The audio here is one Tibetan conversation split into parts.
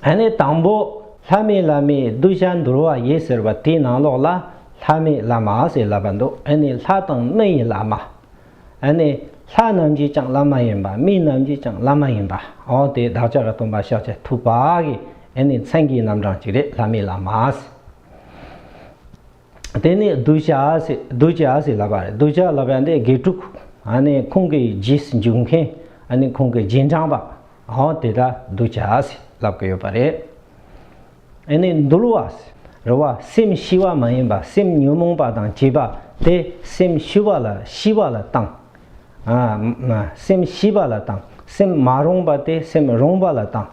ཨ་ནི་དང་པོ་ལྷ་མི་བླ་མའི་གདུལ་བྱ་འདུལ་བ་ཡིན་ཟེར་བ་དེའི་ནང་ལོགས་ལ་ལྷ་མི་བླ་མ་ཞེས་ལབ་པ་འདུག་ཨ་ནི་ལྷ་དང་མི་ཡི་བླ་མ། ཨ་ནི་ལྷ་རྣམས་ཀྱིས་ཀྱང་བླ་མ་ཡིན་པ་མི་རྣམས་ཀྱིས་ཀྱང་བླ་མ་ཡིན་པ་འོ་དེ་བདག་ཅག་གི་སྟོན་པ་ཤཱཀྱ་ཐུབ་པ་གིས་ཨ་ནི་མཚན་གྱི་རྣམ་གྲངས་གཅིག་རེད་ལྷ་མི་བླ་མ་ཞེས། དེ་ནས་གདུལ་བྱ་གདུལ་བྱ་ཟེར་ལབ་པ་རེད་གདུལ་བྱ་ལབ་པ་འདི་དགེ་ཕྲུག་ཁོང་གི་རྗེས་འཇུག་མཁན་ཁོང་གི་རྗེས་འབྲངས་པ་དེ་དག་གདུལ་བྱ་ཟེར་ལབ་ཀྱི་ཡོད་པ་རེད། ནས་འདུལ་བ་རེད་བ་སེམས་ཞི་བ་མ་ཡིན་པ་སེམས་ཉོན་མོངས་པ་དང་བཅས་པ་དེ་སེམས་ཞི་བ་ལ་ཞི་བ་ལ་བཏང། སེམས་ཞི་བ་ལ་བཏང་སེམས་མ་རུངས་པ་དེ་སེམས་རུངས་པ་ལ་བཏང།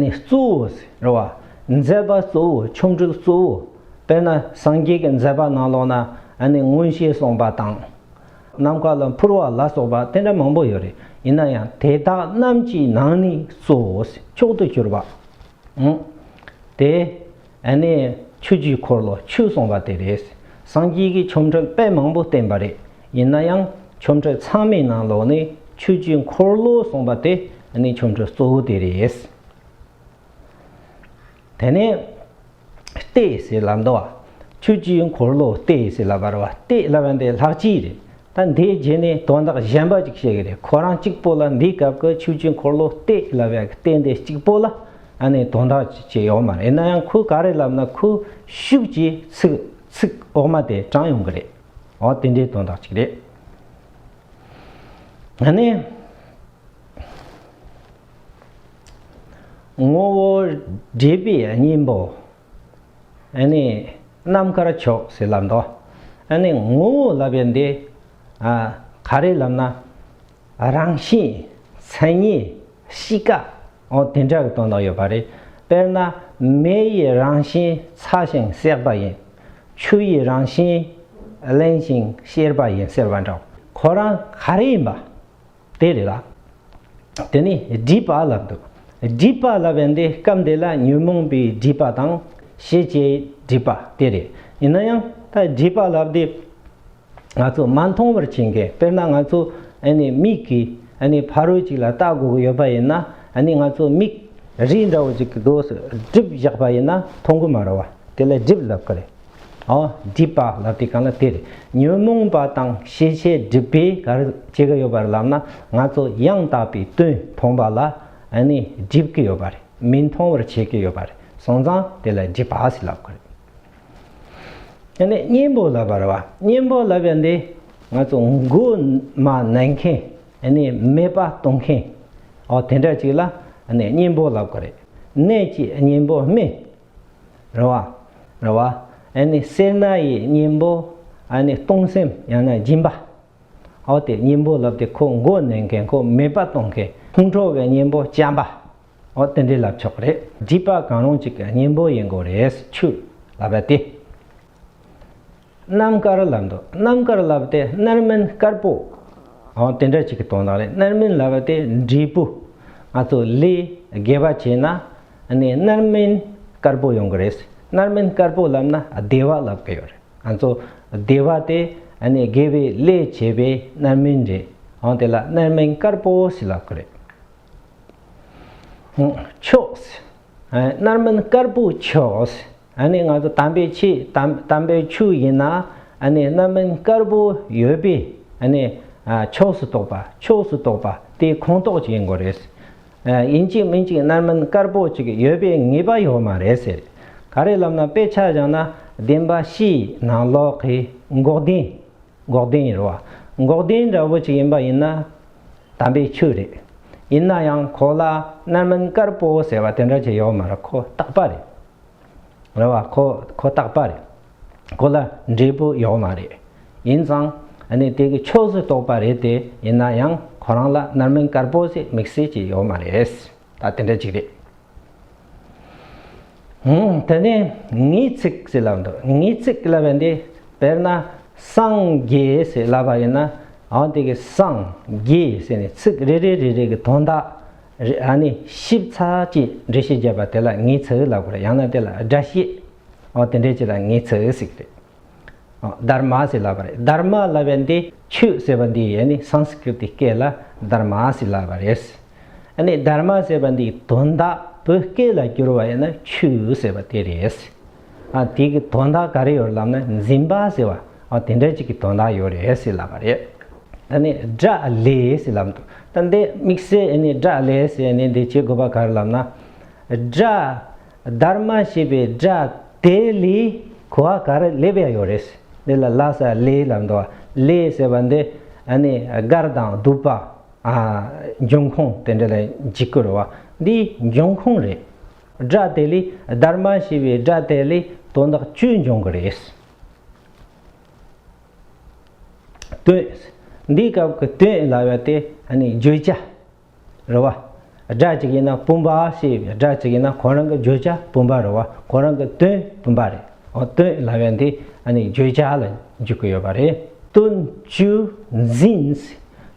ནི་གཙོ་བོས་རེ་བ་མཛད་པ་གཙོ་བོ་ཆོམ་རིལ་གཙོ་བོ་དཔེར་ན་སངས་རྒྱས་ཀྱི་མཛད་པ་ནང་ལོགས་ན་ནི་མངོན་ཤེས་གསུངས་པ་དང། ནམ་མཁའ་ལ་འཕུར་བ་ལ་སོགས་པ་དེ་འདྲ་མང་པོ་ཡོད་རེད་ཡིན་ན་ཡང་དེ་དག་རྣམས་ཀྱི་ནང་ནས་གཙོ་བོས་མཆོག་ཏུ་གྱུར་པ། དེ། ཨ་ནི་ཆོས་རྒྱུད་འཁོར་ལོ་ཆོས་གསུངས་པ་དེ་རེད། སངས་རྒྱས་ཀྱི་ཆོ་འཕྲུལ་དཔེ་མང་པོ་བསྟན་པ་རེད། ཡིན་ན་ཡང་ཆོ་འཕྲུལ་ཚང་མའི་ནང་ལོགས་ནས་ཆོས་རྒྱུད་འཁོར་ལོ་གསུངས་པ་དེ་ནི་ཆོ་འཕྲུལ་གཙོ་བོ་དེ་རེད། དེ་ནས་ལྟས་ཟེར་ལ་འདུལ་བ། ཆོས་རྒྱུད་འཁོར་ལོ་ལྟས་ཟེར་ལ་བར་བ་ལྟས་སླ་བ་འདི་ལྷག་ཅིག་རེད། ད་འདིའི་རྗེས་ནས་དོན་དག་གཞན་པ་ཅིག་བཤད་གི་རེད་ཁོ་རང་གཅིག་པོ་ལ་འདིའི་སྐབས་ཀྱི་ཆོས་བརྒྱུད་འཁོར་ལོ་སྟེ་ལབ་ཡག་གི་སྟེ་འདི་གཅིག་པོ་ལ་ཨ་ནེ་དོན་དག་ཅིག་བྱས་ཡོད་མ་རེད་ན་ཡང་ཁོས་ག་རེ་ལབ་ན་ཁོས་ཤུགས་ཀྱིས་ཚིག་ཚིག་འོག་མ་དེ་དྲངས་ཡོང་གི་རེད་འོ་དེ་འདྲའི་དོན་དག་ཅིག་རེད། ཨ་ནེ། ངོ་བོ་འདྲེས་པའི་གཉེན་པོ། ཨེ་ནི་རྣམ་དཀར་མཆོག་ཟིལ་ལ་འདོགས། ཨེ་ནི་ངོ་བོ་བསླབ་པའི་འདི། ག་རེ་ལབ་ན་རང་བཞིན་མཚན་ཉིད་གཤིས་ཀ། འོ་དེ་འདྲ་གི་དོན་དག་ཡོད་པ་རེད། དཔེར་ན་མེ་ཡི་རང་བཞིན་ཚ་ཞིང་བསྲེག་པ་ཡིན། ཆུ་ཡི་རང་བཞིན་བརླན་ཞིང་གཤེར་བ་ཡིན་ཟེར་བ་འདྲའོ། ཁོ་རང་ག་རེ་ཡིན་པ། དེ་རེད་ལ། དེ་ནས་སྒྲིབ་པ་ལ་འདུ། སྒྲིབ་པ་ལ་བས་འདི་སྐབས་འདི་ལ་ཉོན་མོངས་པའི་སྒྲིབ་པ་དང་ཤེས་བྱའི་སྒྲིབ་པ་དེ་རེད། ཡིན་ན་ཡང་ད་སྒྲིབ་པ་ལ་འདི་ང་ཚོ་མ་མཐོང་བར་ཕྱིན་གི་དཔེར་ན་ང་ཚོ་མིག་གིས་ཕ་རོལ་ཅིག་ལ་ལྟ་དགོས་ཀྱི་ཡོད་པ་ཡིན་ན་ང་ཚོ་མིག་རིས་འདྲ་བོ་ཅིག་གི་སྒོས་སུ་སྒྲིབ་བཞག་པ་ཡིན་ན་མཐོང་གི་མ་རེད་བ། དེ་ལ་སྒྲིབ་ལབ་ཀི་རེད། སྒྲིབ་པ་ལ་དེ་གང་ལ་དེར་ཉོན་མོངས་པ་དང་ཤེས་བྱའི་སྒྲིབ་པས་གར་བྱེད་ཀྱི་ཡོད་པར་ལབ་ན་ང་ཚོ་ཡང་དག་པའི་དོན་མཐོང་པ་ལ་ནི་སྒྲིབ་ཀྱི་ཡོད་པ་རེད་མི་མཐོང་བར་བྱེད་ཀྱི་ཡོད་པ་རེད་སོང་ཙང་དེ་ལ་སྒྲིབ་པ་ཞེས་ལབ་དགོས་རེད། ནི་གཉེན་པོ་ལབ་པར་བ་གཉེན་པོ་ལབ་པའི་འདི་ང་ཚོ་མགོ་མ་ནས་མཁན་ནི་མེད་པ་གཏོང་མཁན་འོ་དེ་འདྲ་ཅིག་ལ་ནི་གཉེན་པོ་ལབ་དགོས་རེད་ནད་ཀྱི་གཉེན་པོ་སྨན་རེ་བ། རེ་བ། ཨཱ་ནི་སེར་སྣ་ཡི་གཉེན་པོ། ཨཱ་ནི་སྟོང་སེམས་ཡང་ན་སྦྱིན་པ། ཨཱོ་སྟེ་གཉེན་པོ་ལབ་སྟེ་ཁོ་མགོ་ནོན་མཁན་ཁོ་མེད་པ་གཏོང་མཁན་ཕུང་ཁྲོ་བའི་གཉེན་པོ་བྱམས་པ། ཨཱོ་སྟེ་འདི་ལབ་ཆོག་རེད་སྒྲིབ་པ་གང་རུང་གཅིག་གི་གཉེན་པོ་ཡིན་དགོས་རེད་ཆུ་ལབ་པ་སྟེ། རྣམ་དཀར་ལབ་འདུག་རྣམ་དཀར་ལབ་སྟེ་རྣར་མིན་དཀར་པོ། འོ་དེ་འདྲ་ཅིག་གི་དོན་དག་རེད་རྣར་མིན་ལབ་སྟེ་འབྲས་བུ། ང་ཚོ་ལས་དགེ་བ་བྱས་ན་ནི་རྣར་མིན་དཀར་པོ་ཡོང་གི་རེད། རྣར་མིན་དཀར་པོ་ལབ་ན་བདེ་བ་ལབ་གི་ཡོད་རེད་ང་ཚོ་བདེ་བ་དེ་ནི་དགེ་བའི་ལས་བྱས་པའི་རྣར་མིན་རེད་འོ་དེ་ལ་རྣར་མིན་དཀར་པོ་ཞིག་ལབ་གི་རེད། ཕྱོགས། རྣར་མིན་དཀར་པོ་ཕྱོགས། ཨ་ནི་ང་ཚོ་དམ་པའི་ཆོས་དམ་པའི་ཆོས་ཡིན་ན་ཨ་ནི་རྣམ་སྨིན་དཀར་པོ་ཡོད་པས་ཨ་ནི་ཕྱོགས་སུ་གཏོགས་པ་ཕྱོགས་སུ་གཏོགས་པ་དེ་ཁོངས་གཏོགས་ཅིག་ཡིན་དགོས་རེད། ཡིན་གཅིག་མིན་གཅིག་རྣམ་སྨིན་དཀར་པོ་ཅིག་ཡོད་པའི་ངེས་པ་ཡོད་མ་རེད་ཟེར། ག་རེ་ལབ་ན་དཔེ་ཆ་བཞག་ན་བདེན་པ་བཤིག་ནང་ལོག་གི་འགོག་བདེན་འགོག་བདེན་རེད་བ། འགོག་བདེན་འདྲ་བོ་ཅིག་ཡིན་པ་ཡིན་ན་དམ་པའི་ཆོས་རེད། ཡིན་ན་ཡང་གོ་ལ་རྣམ་སྨིན་དཀར་པོ་ཟེར་བ་དེ་འདྲ་ཅིག་ཡོད་མ་རེད་ཁོ་ཐག་པ་རེད། རེད་བ། ཁོ་ཁོ་རྟག་པ་རེད། ཁོ་ལ་འབྲས་བུ་ཡོད་མ་རེད། ཡིན་ཙང། ནི་དེ་གི་ཕྱོགས་སུ་གཏོགས་པ་རེད་དེ་ཡིན་ན་ཡང་ཁོ་རང་ལ་རྣར་མིང་དཀར་པོ་ཞིག་དམིགས་བསལ་གྱི་ཡོད་མ་རེད། ད་དེ་འདྲ་ཅིག་རེད། དེ་ནས་ངེས་ཚིག་ཞེས་ལབ་འདུག་ངེས་ཚིག་གི་ལབ་བ་འདི་དཔེར་ན་སངས་རྒྱས་ཞེས་ལབ་པ་ཡིན་ན་ཡང་དེ་གི་སངས་རྒྱས་ཞེས་ནི་ཚིག་རེ་རེ་རེ་རེ་གི་དོན་དག་རེད་ཨ་ནི་ཞིབ་ཚགས་ཀྱིས་འགྲེལ་བཤད་བརྒྱབ་པ་དེ་ལ་ངེས་ཚིག་ལ་གོ་རེད་ཡང་ན་དེ་ལ་སྒྲ་བཤད་འོ་དེ་འདྲའི་ཆེད་ལ་ངེས་ཚིག་ཟིག་རེད་འོ Dharma ཟིག་ལབ་པ་རེད Dharma ལབ་པའི་འདི་ཆོས་ཟེར་བ་འདི་ཡེ་ནི Sanskrit ཀྱི་སྐད་ལ Dharma ཟིག་ལབ་པ་རེད། ཨ་ནི Dharma ཟེར་བ་འདི་དོན་དག་བོད་སྐད་ལ་བསྒྱུར་བ་ཡིན་ན་ཆོས་ཟེར་བ་དེ་རེད། དེ་གི་དོན་དག་ག་རེ་ཡོད་ལབ་ན་འཛིན་པ་ཟེར་བ་དེ་འདྲ་ཅིག་གི་དོན་དག་ཡོད་རེད་ཟེར་ལབ་པ་རེད། ད་ནི་སྒྲ་ལས་ཟེར་ལབ་འདུག་ད་འདི་དམིགས་བསལ་ནི་སྒྲ་ལས་ཟེར་ནས་འདི་བྱེད་དགོས་པ་ག་རེ་ལབ་ན། སྒྲ་སྡར་མ་ཞེས་པའི་སྒྲ་དེ་ལས་གོ་བ་ག་རེ་སླེབས་ཡ་ཡོད་རེད་ཟེར་འདི་ལ་ལྷ་སར་ལས་ལབ་འདུག་ལས་ཟེར་བ་འདི་ནི་སྒར་དང་གདུག་པ། འབྱུང་ཁུངས་དེ་འདྲ་ལ་འཇིགས་སྐུལ་རེད་བ་འདི་འབྱུང་ཁུངས་རེད། སྒྲ་དེ་ལས་སྡར་མ་ཞེས་པའི་སྒྲ་དེ་ལས་དོན་དག་བཅུ་འབྱུང་གི་རེད། དོན། འདིའི་སྐབས་ཀྱི་དོན་ལ་བར་དེ་ནི་བརྗོད་བྱ་རུ་བ་སྒྲ་གཅིག་ཡིན་ན་བུམ་པ་ཞེས་པའི་སྒྲ་གཅིག་ཡིན་ན་ཁོ་རང་གི་བརྗོད་བྱ་བུམ་པ་རུ་བ་ཁོ་རང་གི་དོན་བུམ་པ་རེད། དོན་ལ་བར་འདི་ནི་བརྗོད་བྱ་ལ་འཇུག་གི་ཡོད་པ་རེད། དོན་བཅུ་འཛིན།